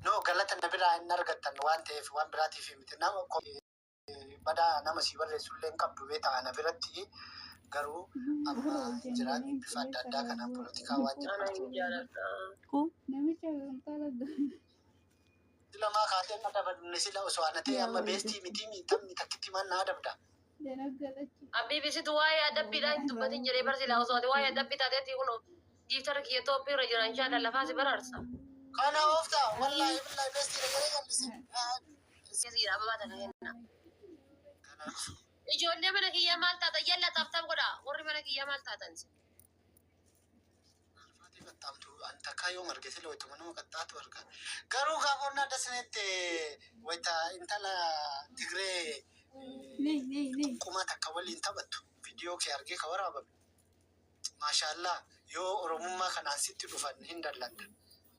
No galata na biraa hin argattan waan ta'eef waan biraatiif miti nama ko- badaa nama sii barreessu illee hin qabdu beektaa ana biratti garuu amma hin jiraan bifa adda addaa kanaan polotikaa waan jedhamu Namicha gamtaa laggaa. Silamaa kaatee na dabadne sila osoo ana ta'e amma beestii mitii miixamni takkitti maan na adabda. Abbiifi situ waa'ee adabbiidhaa hin dubbatin jedhee bar silaa osoo ati waa'ee adabbii taateetti kunoo giiftarri kiyya tooppii irra jira inshaa Allah lafaa si baraarsa. Kana oofta wallaahi billaahi beestii na jedhee jal'ise. Isin siidha ababaa takka kenna. Ijoollee mana kiyyaa maal taatan yalla taaf taaf godha warri mana kiyyaa maal taatan isin. Alfaatii qaxxaamtu an takkaa yoom arge sila waytuma nama qaxxaatu arga. Garuu gaafa onnaa dasinetti wayta intala Tigree Ni ni ni. xunqumaa takka waliin taphattu viidiyoo kee argee ka waraabame. Maashaallaah yoo Oromummaa kanaan sitti dhufan hin dallanta.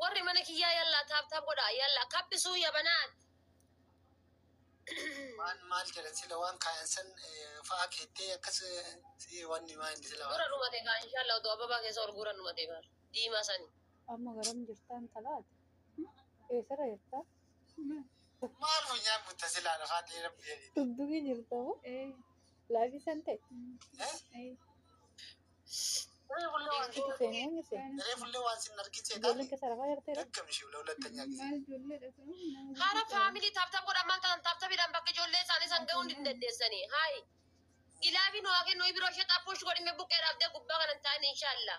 Warri mana kiyyaa yallaa taap taap godhaa yallaa kabbisuu yabanaan. Waan maal jedhan sila waan kaayan san eh, fa'a keettee akkas eh, si wanni maa inni sila Gura waan. dhumate kaa inshallah utuu ababaa keessa ol gura dhumate bar diimaa sani. Amma garam jirtaan talaati? Eessara jirtaa? Maal funyaan mutta silaa lafaa dheeraa biyya. Dugdugii jirta moo? Laayifii santee? Ree fuullee waan Itti seenee eenyu seen? Ree fuullee waan sin argin seetaan. Ijoolleen keessa rafaa jirtee ree? Daggam ishee ulaa hulattanyaa gisee. Maal ijoollee dha sun? Nama Hara guddaa. faamilii taaptaap godhan maal ta'an taaptaapidhaan bakka ijoollee isaanii san ga'uu hin dandeessanii. Haayi. Gilaabii nu haa kennu ibiroo ishee xaappuush godhime buqqee dhaabdee gubbaa kana hin taa'in inshaallah.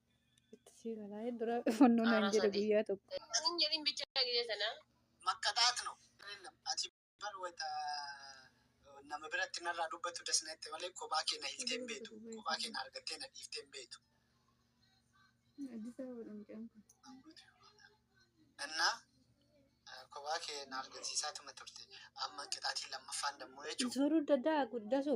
Itti sii galaa dura fannoo naan jedhe guyyaa tokko. Anin jedhin bichaa gidee sana. Makkaxaat no Ayidellem ati bar wayta nama biratti narraa dubbatu das nette malee kophaa kee na hiiktee hin beektu kophaa kee na argattee na dhiiftee hin beektu Addis Ababadha mucaan kun. innaa eh, kophaa kee na argisiisaatuma turte amma qixaatiin lammaffaan dammoo jechuudha. Zoruu dadaa guddasu.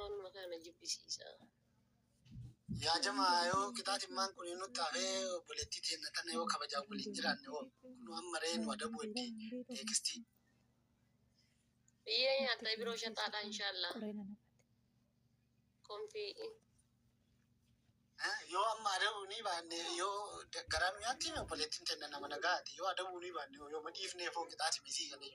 Waanuma kana jibbisiisa. Yaa jamaa yoo qixaaximmaan kun nutti hafee obboleettii teenna tana yoo kabajaan waliin jiraanne hoo kun amma ree nu adabu itti teekistii. Biyyee nyaatta biroo shaxaadha inshaallah. Konfii. Yoo amma adabu ni baanne yoo garaa nu nyaatti hime obboleettiin teenna nama nagaati yoo adabu ni baanne hoo yoo madhiifnee foo qixaaximii sii galee.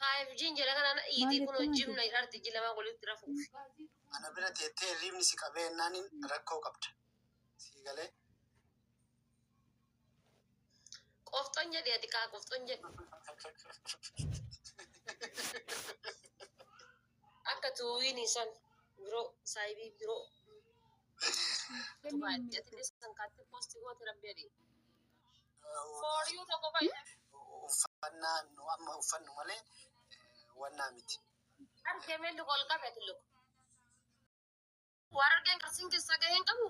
5G'n jala kanaan iitii kun hojjimna irratti iji lamaa walitti rafuuf. Ana bira teettee hirriibni si qabee ennaan rakkoo qabda. Sii galee. Qofxon jedhi ati kaa qofxon jedhi. Akka tuuwiin isan biroo saayibii biroo. Tubaatti ati isan kaatti poosti goote rabbi adii. Fooriyuu tokko fayyada. Uffannaa nu amma uffannu malee wannaa miti. Argee meelli ol qabe tulluq. Waan argeen qarsiin keessaa gahee hin qabu.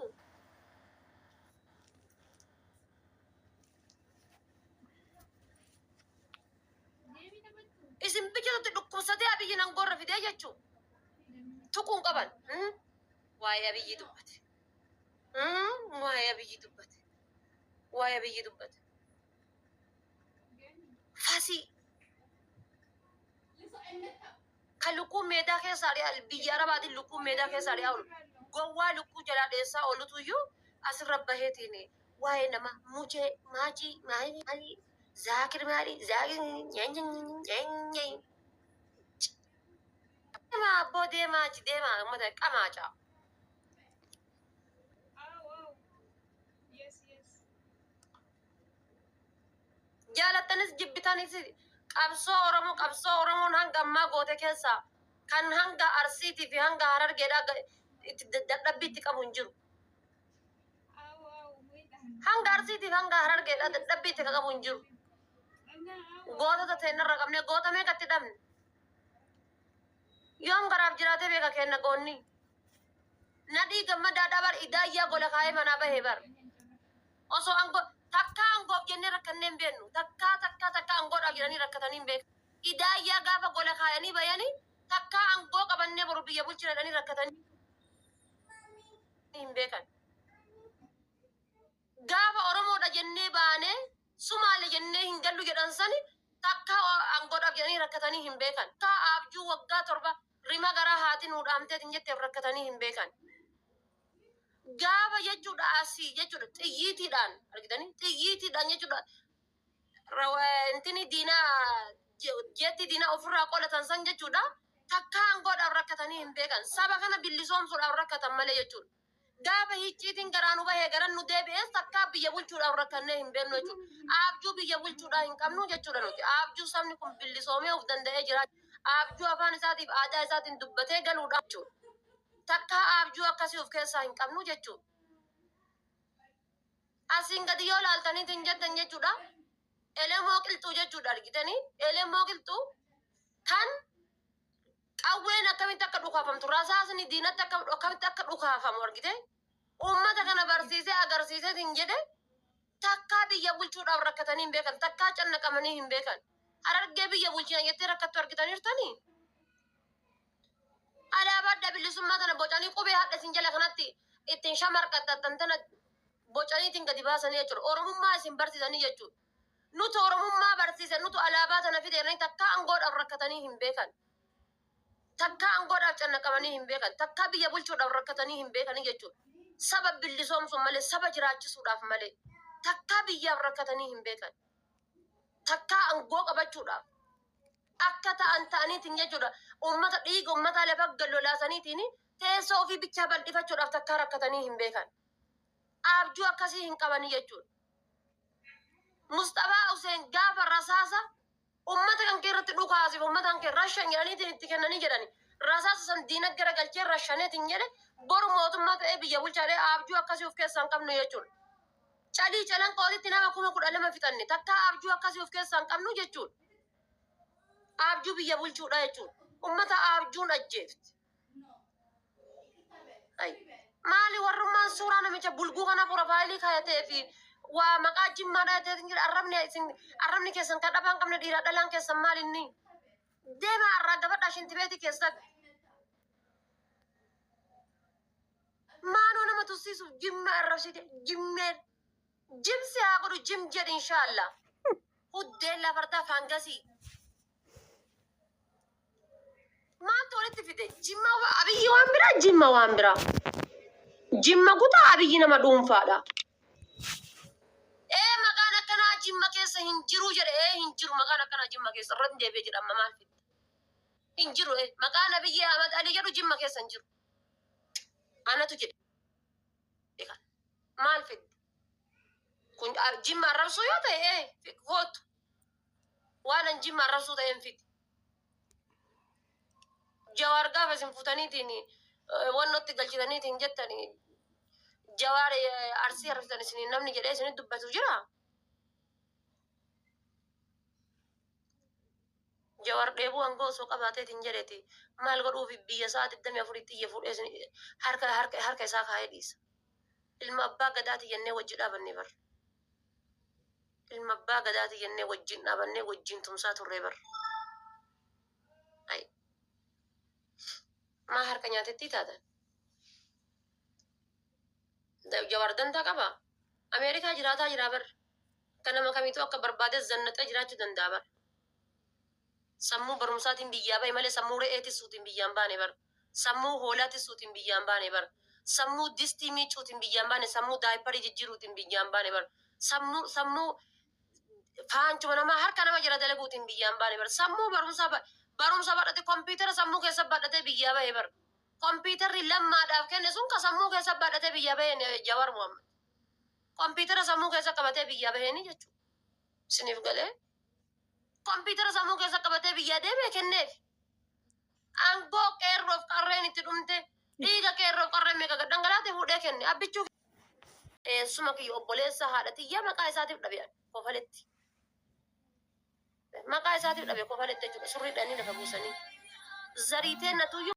Isin biyyatti dhukkubsatee abiyyi nan gorra fidee jechuu tuquun qaban. Waa'ee abiyyi dubbate. Waa'ee abiyyi dubbate. waa'ee biyyi dubbata. Fasii kan lukkuun meedaa keessaa dhiyaa biyya arabaatiin lukkuun meedaa keessaa dhiyaa oolu gowwaa lukkuu jalaa dheessaa oolutu iyyuu asirra baheetiin waa'ee nama muchee maachii maalii maalii zaakir maalii zaakir nyaanyanyanyanyanyay deemaa abboo deemaa achi deemaa uummata qamaacaa. Jaalattanis jibbitanis qabsoo Oromoo qabsoo Oromoon hanga ammaa goote keessaa kan hanga Arsiitii fi hanga Harargeedhaa ga- itti da- dadhabbii itti qabu hin jiru. Hanga Arsiitii fi hanga Harargeedhaa dadhabbii itti qabu hin jiru. Gootota teennarra qabnee goota meeqa itti dhabne? Yoom garaaf jiraatee beeka kenna goonni? Nadhii gammadaa dhabar idaayyaa gola kaa'ee manaa bahee bar. Osoo angoo takkaa angoof jennee rakkannee hin beeknu. Takkaa takkaa takkaa angoodhaaf jedhanii rakkatanii hin beeknu. Idaayyaa gaafa gola kaayanii bayanii takkaa angoo qabannee boru biyya bulchina jedhanii rakkatanii hin beekan. Gaafa Oromoodha jennee baanee Sumaale jennee hin gallu jedhan sani takkaa angoodhaaf jedhanii rakkatanii hin beekan. Takkaa abjuu waggaa torba Rima garaa haati nuu dhaamteetiin jetteef rakkatanii hin beekan. Gaafa jechuudha asii jechuudha xiyyiitiidhaan argitanii xiyyiitiidhaan jechuudha rawa- intini diinaa je- jeetti diinaa ofirraa qolatan san jechuudha takkaan godhaaf rakkatanii hin beekan. Saba kana bilisoomsuudhaaf rakkatan malee jechuudha. Gaafa hicciitiin garaa nu bahee garan nu deebi'es takkaa biyya bulchuudhaaf rakkannee hin beeknu jechuudha. Abjuu biyya bulchuudhaa hin qabnu jechuudha nuti. Abjuu sabni kun billisoomee of danda'ee jira. Abjuu afaan isaatiif aadaa isaatiin dubbatee galuudhaa jechuudha. Takkaa abjuu akkasii of keessaa hin qabnu jechuudha. Asiin gadi yoo laaltaniitu hin jettan jechuudha. Elemoo qilxuu jechuudha argitanii. Elemoo qilxuu kan Qawween akkamitti akka dhukaafamtu, rasaasni diinatti akka akkamitti akka dhukaafamu argite. Uummata kana barsiisee agarsiisee hin jedhe takkaa biyya bulchuudhaaf rakkatanii hin beekan, takkaa cannaqamanii hin beekan. Harargee biyya bulchina jettee rakkattu argitaniirtanii? Alaabaa adda bilisummaa tana bocanii qubee hadha isin jala kanatti ittiin shamarqaxxattan tana bocaniitiin gadi baasanii jechuudha. Oromummaa isin barsiisanii jechuudha. Nutu Oromummaa barsiise, nutu alaabaa tana fide jedhanii takkaa angoodhaaf rakkatanii hin beekan. Takkaa angoodhaaf cannaqamanii hin beekan. Takkaa biyya bulchuudhaaf rakkatanii hin beekanii jechuudha. Saba bilisoomsuun malee, saba jiraachisuudhaaf malee takkaa biyyaaf rakkatanii hin beekan. Takkaa angoo qabachuudhaaf akka ta'an ta'aniitiin jechuudha. Uummata dhiiga uummataa lafa gad lolaasaniitiin teessoo ofii bichaa bal'ifachuudhaaf takkaa rakkatanii hin beekan. abjuu akkasii hin qabanii jechuudha. Musxafaa Huseen gaafa rasaasa ummata kan kee irratti dhukaasiif ummata kan kee rashan jedhaniitiin itti kennanii jedhani. Rasaasa san diina gara galchee rashaneetiin jedhe boru mootummaa ta'ee biyya bulchaadhee abjuu akkasii of keessaa hin qabnu jechuudha. Calii calan qootitti nama kuma kudha lama fixanne takkaa abjuu akkasii of keessaa hin qabnu jechuudha. Abjuu biyya bulchuudha jechuudha. Ummata abjuun ajjeefti. Ay, maali warrummaan suuraa namicha bulguu kana porofaayilii kaayatee fi waa maqaa jimmaa dhahatee hin jira arrabni isin arrabni keessan kan dhabaan qabne dhiiraa dhalaan keessan maal inni deema arraa gabadhaa shinti beeti keessan maaloo nama tussiisuuf jimma arrabsite jimmeen jimsi haa godhu jim jedhi inshaallah huddeen lafartaa faangasii Maaltu walitti fide? Jimma wa- abiyyi waan biraa, jimma waan biraa. Jimma kutaa abiyyi nama dhuunfaadha. Ee maqaan akkanaa jimma keessa hin jiru jedhe ee hin jiru maqaan akkanaa jimma keessa irra hin deebi'e jedha amma maal fidda? Hin jiru ee maqaan abiyyi Ahmad Ali jedhu jimma keessa hin jiru. Anatu jedhe. Egaa maal fidda? Kun ah, jimma arrabsuu yoo ta'e ee kootu. Waan an jimma arrabsuu ta'een fiti. Jawaar gaafa isin futaniitiin wannotti galchitaniitiin jettan jawaar arsii arrabsitan isin namni jedhee isin dubbatu jira. Jawaar dheebuu hanga osoo qabaateetiin jedheeti maal godhuuf biyya isaa digdamii afuritti iyya fuudhee isin harka harka harka isaa kaa'ee dhiisa. Ilma abbaa gadaati jennee wajji dhaabanne bar. Ilma abbaa gadaati jennee wajjin dhaabannee wajjin tumsaa turree bar. Ay. Maa harka nyaatettii taatan? Da- Jawaar dantaa qaba. Ameerikaa jiraataa jiraa bar. Akka nama kamiituu akka barbaade zannaxee jiraachuu danda'a bar. Sammuu barumsaatiin biyyaa bahe malee sammuu re'ee tissuutiin biyyaan baane bar. Sammuu hoolaa tissuutiin biyyaa hin baane bar. Sammuu distii miiccuutiin biyyaa hin baane, sammuu daayipparii jijjiiruutiin biyyaa hin baane bar. Sammuu, sammuu faanchuma namaa harka nama jala dalaguutiin biyyaa hin baane bar. Sammuu barumsaa ba, barumsa badhate kompiitara sammuu keessa badhatee biyyaa bahe bar. Kompiitarri Lammaadhaaf kenne sun ka sammuu keessa badhatee biyyaa bahe ni- Jawaar Muhammad. Kompiitara sammuu keessa qabatee biyyaa baheeni jechuudha. Isiniif galee? Kompiitara sammuu keessa qabatee biyyaa deeme kenneef. Aangoo qeerroof qarreen itti dhumte dhiiga qeerroof qarreen meeqa gad dhangalaate fuudhee kenne abbichuu eessuma kiyya obboleessa haadha tiyya maqaa isaatiif dhabe ani kofaletti maqaa isaatiif dhabe kofaletti jechuudha surriidhaan inni lafa buusanii zariiteen natuyyuu